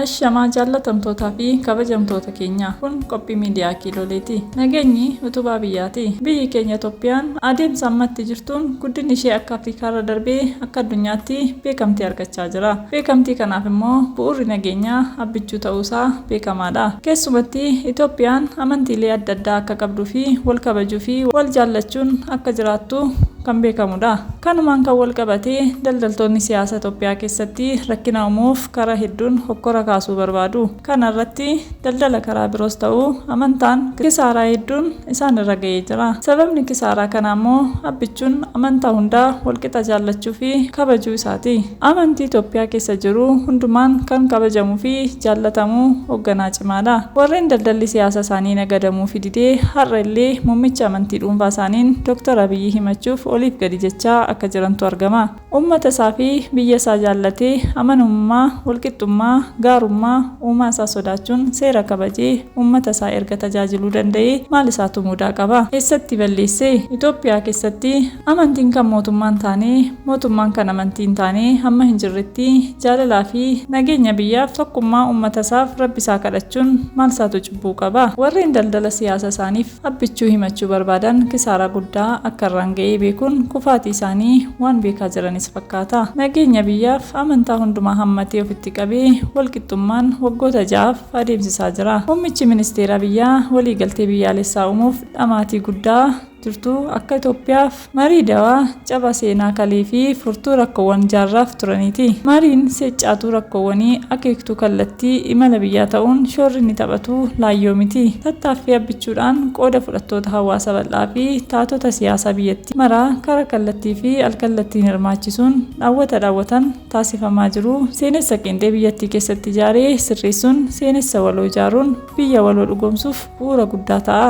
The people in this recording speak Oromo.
Ashamaa jaallatamtootaa fi kabajamtoota keenyaa kun qophii miidiyaa kiiloleeti. Nageenyi utubaa biyyaati. Biyyi keenya Itoophiyaan adeemsa ammatti jirtuun guddinni ishee akka Afrikaarra darbee akka addunyaatti beekamtii argachaa argachaa jira. Beekamtii kanaaf immoo bu'uurri nageenyaa Abbichuu ta'uu isaa beekamaa dha. Keessumatti Itoophiyaan amantiilee adda addaa akka qabduu fi wal kabajuu fi wal jaallachuun akka jiraattu kan beekamu dha. Kanumaan kan wal qabatee daldaltoonni siyaasa Itoophiyaa keessatti rakkina umuuf karaa hedduun hokkora kaasuu barbaadu. Kana irratti daldala karaa biroos ta'u amantaan kisaaraa hedduun isaan irra ga'ee jira. Sababni kisaaraa kanaa immoo Abbichuun amantaa hunda wal qixa jaallachuu fi kabajuu isaati. Amantii Itoophiyaa keessa jiru hundumaan kan kabajamuu fi jaallatamu hogganaa cimaa dha. Warreen daldalli siyaasa isaanii nagadamuufi dide har'a illee muummicha amantii dhuunfaa isaaniin Dr. Abiyyi himachuuf oliif gadi jechaa akka jirantu argama. Ummata isaa fi biyya isaa jaallatee, amanamummaa, walqixxummaa, gaarummaa, uumaa isaa sodaachuun seera kabajee ummata isaa erga tajaajiluu danda'ee maal isaatu mudaa qaba? Eessatti balleesse? Itoophiyaa keessatti amantiin kan mootummaa hin taane, mootummaan kan amantii hin taane hamma hin jirretti jaalalaa fi nageenya biyyaaf, tokkummaa ummata isaaf Rabbi isaa kadhachuun maal isaatu cubbuu qaba? Warreen daldala siyaasa isaaniif. Abbichuu himachuu barbaadan kisaaraa guddaa akka irraan ga'ee beekuun kufaatii isaanii waan beekaa jiranis fakkaata. Nageenya biyyaaf amantaa hundumaa hammatee ofitti qabee walqixxummaan waggoota ja'aaf adeemsisaa jira. Muummichi ministeeraa biyyaa waliigaltee biyyaalessaa uumuuf dhamaatii guddaa jirtu akka Itoophiyaaf, Marii dawaa caba seenaa kalee fi furtuu rakkoowwan jaarraaf turaniiti. Mariin seccaatuu rakkoowwanii akeektuu kallattii imala biyyaa ta'uun shoorri inni taphatu laayyoo miti. Tattaaffii abbichuudhaan qooda fudhattoota hawaasa bal'aa fi taatota siyaasaa biyyattii maraa karaa kallattii fi alkallattiin hirmaachisuun dhaawwata dhaawwatan taasifamaa jiru seenessa qeenxee biyyattii keessatti ijaare sirreessuun seenessa waloo ijaaruun biyya waloo dhugoomsuuf bu'uura guddaa ta'a.